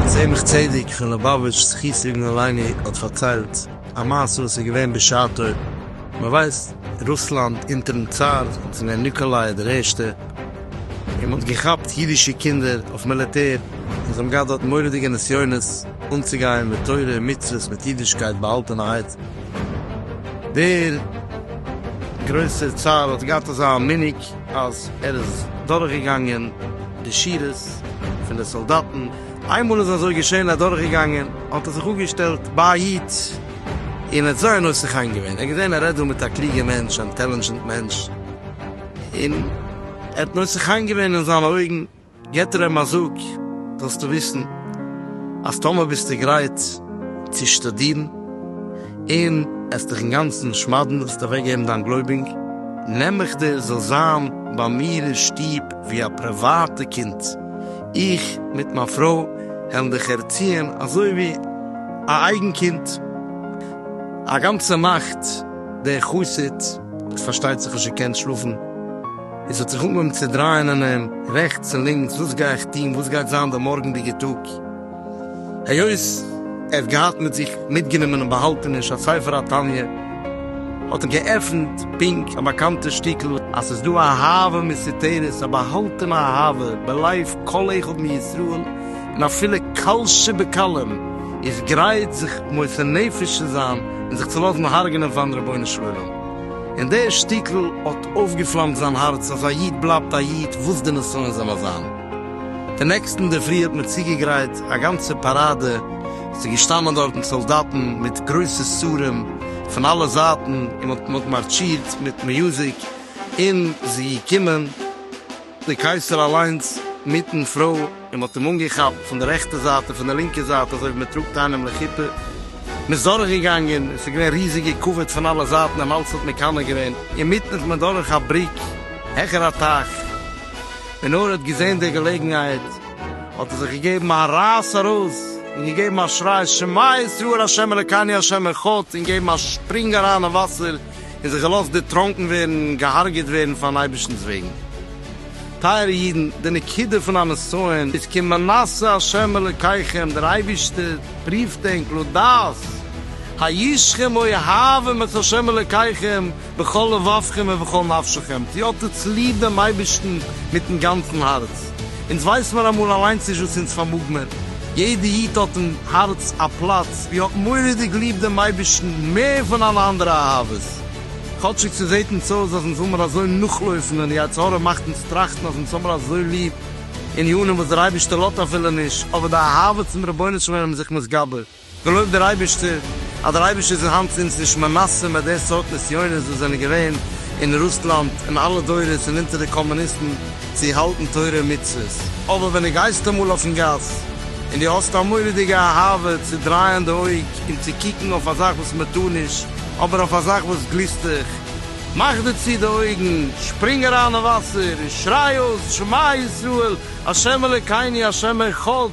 צמח צדק פון ליובאוויטש זכותו יגן עלינו האט פארציילט א מעשה וואס איז געווען בשעתו, מען ווייסט רוסלאנד אונטערן צאר האט עס געווען ניקאליי דער ערשטער, און מען האט געכאפט אידישע קינדער אויף מיליטער און זיי האבן געהאט דארט מורא'דיגע נסיונות, אנצוגיין מיט תורה און מצוות מיט אידישקייט באהאלטענעהייט. דער גרויסער צאר האט געהאט אזא מנהג אז ער איז דורכגעגאנגען די שורות פון די סאלדאטן, איינמאל איז אזוי געשען ער איז דורכגעגאנגען האט ער זיך אפגעשטעלט ביי א איד און ער האט זייער נושא חן געווען, ער האט געזען ער רעדט דא מיט א קלוגע מענטש אינטעלינדזשענט מענטש און ער האט נושא חן געווען אין זיינע אויגן. געבט ער אים א זאג, זאלסטו וויסן אז טאמער ביסטו גרייט צו שטודירן און עסט דיך אינגאנצן שמד'ן, וועסטו אוועקגעבן דיין גלויבונג, נעם איך דיר זאלסט זיין ביי מיר אין שטוב ווי א פריוואטע קינד, איך מיט מיין פרוי העלן דיך ערציען אזוי ווי א אייגן קינד. א גאנצע נאכט דער חסיד האט פארשטייט זיך נישט געקענט שלאפן. עס האט זיך אנגעהויבן צו דרייען אין אים רעכטס און לינקס, וואס גיי איך טון, וואס גייט זיין די מארגנדיגע טאג? היות ער האט געהאט מיט זיך מיטגענומען אין באהאלטעניש א ספר התניא, האט ער געעפנט פונקט א באקאנטע שטיקל, אז עס איז דא א אהבה מסתתרת, א באהאלטענע אהבה בלב כל אחד מישראל, און אפילו קל שבקלים איז גרייט זיך מוסר נפש צו זיין און זיך צו לאזן הרג'נען פאר'ן רבונו של עולם, און דער שטיקל האט. אויפגעפלאמט זיין הארץ אז א איד בלייבט א איד וואס די נסיון זאל א זיין. די נעקסטן אינדערפרי האט מען צוגעגרייט א גאנצע פאראדע, עס איז געשטאנען דארטן סאלדאטן מיט גרויסע סרים פון אלע זייטן, און מען האט מארטשירט מיט מיוזיק און איז געקומען. דער קייסער אליינס מיטן פרוי, און מ'האט אים אנגעכאפט פון די רעכטע זייט און פון די לינקע זייט אזוי ווי מ'טראגט איינעם לחופה, מ'איז דורכגעגאנגען, עס איז געווען ריזיגע כבוד פון אלע זייטן, דעם האלז האט מקנא געווען, אינמיטן איז מען דורך א בריק העכער א טייך, ווען נאר ער האט געזען די געלעגנהייט האט ער זיך געגעבן א רייס ארויס און געגעבן א שריי שמע ישראל ה' אלקינו ה' אחד און געבן א שפרינג אריין אין וואסער, און זיך געלאזט דערטראנקן ווערן און געהארגעט ווערן פארן אייבערשטנ'ס וועגן. טייערע אידן, די נקודה פון א נסיון איז כי מנסה ה' אלוקיכם, דער אייבערשטער פריווט ענק לדעת הישכם אוהבים את ה' אלוקיכם בכל לבבכם ובכל נפשכם, צו האט איר צוליב דעם אייבערשטן מיטן גאנצן הארץ. אונז ווייס מיר אמאל אליינס נישט וואס אונז פארמאג מיר, יעדע איד האט אין הארץ א פלאץ ווי ער האט מורא'דיג ליב דעם אייבערשטן מער פון אלע אנדערע אהבות, כאטשיג ס'זעט אונז אויס אז אונז וויל מיר אזוי נאכלויפן און די יצר הרע מאכט אונז טראכטן אז אונז האב מיר אזוי ליב ענינים וואס דער אייבערשטער לאזט אפילו נישט, אבער די אהבות צום רבונו של עולם איז זיך מתגבר. געלויבט דער אייבערשטער אז דער אייבערשטער איז אין האנט אונז נישט מנסה מיט די סארט נסיונות וואס זענען געווען אין רוסלאנד אין אלע דורות און אונטער די קאמוניסטן צו האלטן תורה און מצוות. אבער ווען דו גייסט אמאל אויפן גאס און דו האסט א מורא'דיגע אהבה צו דרייען די אויג און צו קוקן אויף א זאך וואס מען טאר נישט אבער אויף א זאך וואס גליסט דיך, מאך דיר צו די אויגן, שפרינג אריין אין וואסער און שריי אויס שמע ישראל השם אלוקינו השם אחד!